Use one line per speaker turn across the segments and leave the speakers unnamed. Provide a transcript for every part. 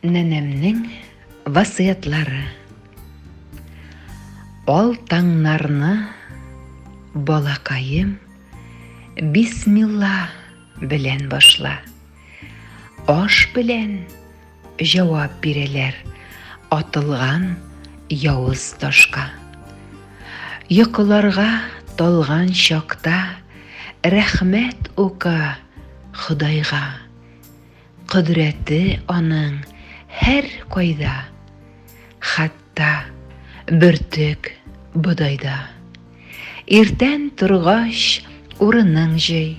Нәнәмнең васыятлары. Ал таңнарны балакаем бисмилла белән башла. Аш белән җавап бирәләр атылган явыз ташка. Йокыларга талган чакта рәхмәт ука Ходайга. Кодрәте аның һәркайда, хәтта бөртек бодайда. Иртән торгач, урының җый,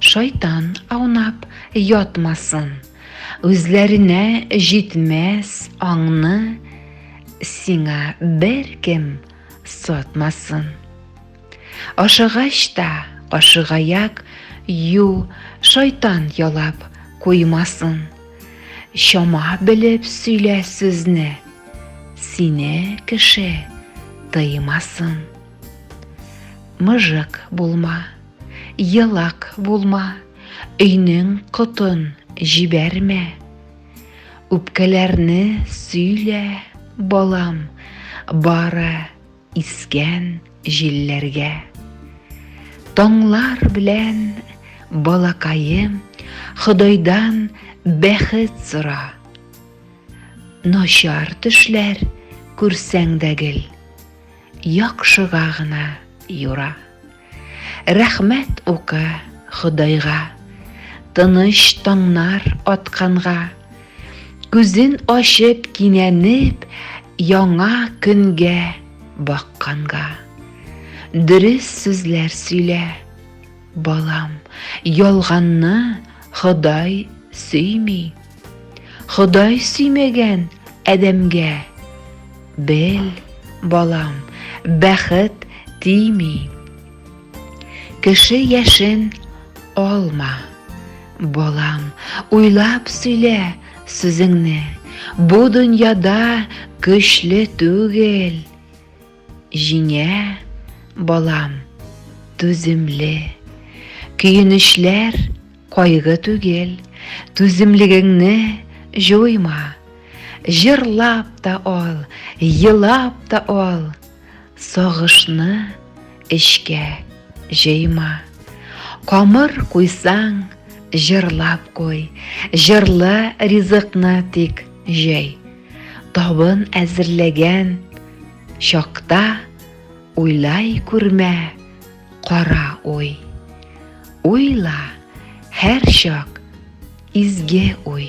шайтан аунап ятмасын. Үзләренә җитмәс аңны сиңа беркем сатмасын. Ашыгач та, кашыгаяк, ю, шайтан ялап куймасын. Чама белеп сөйлә сүзне, сине кеше тыймасын. Мыжык булма, елак булма, өйнең котын җибәрмә. Үпкәләрне сөйлә, балам, бары Искән җилләргә. Таңлар белән, балакаем, Ходайдан бәхет сора. Начар төшләр күрсәң дә гел, Яхшыга гына юра. Рәхмәт укы Ходайга, Тыныч таңнар атканга, Күзен ачып кинәнеп Яңа көнгә бакканга. Дөрес сүзләр сөйлә, балам, Ялганны Ходай сөйми. Ходай сөймәгән адәмгә. Бел, балам, бәхет тими. Кеше яшен алма. Балам, уйлап сөйлә сүзеңне. Бу дөньяда көчле түгел. Җиңә, балам, түземле. Көенечләр кайгы түгел, түземлегеңне җуйма. Җырлап та ал, елап та ал, сагышны эчкә җыйма. Камыр куйсаң, җырлап куй, җырлы ризыкны тик җый. Табын әзерләгән, Чакта уйлай күрмә, кара уй. Уйла һәр чак изге уй.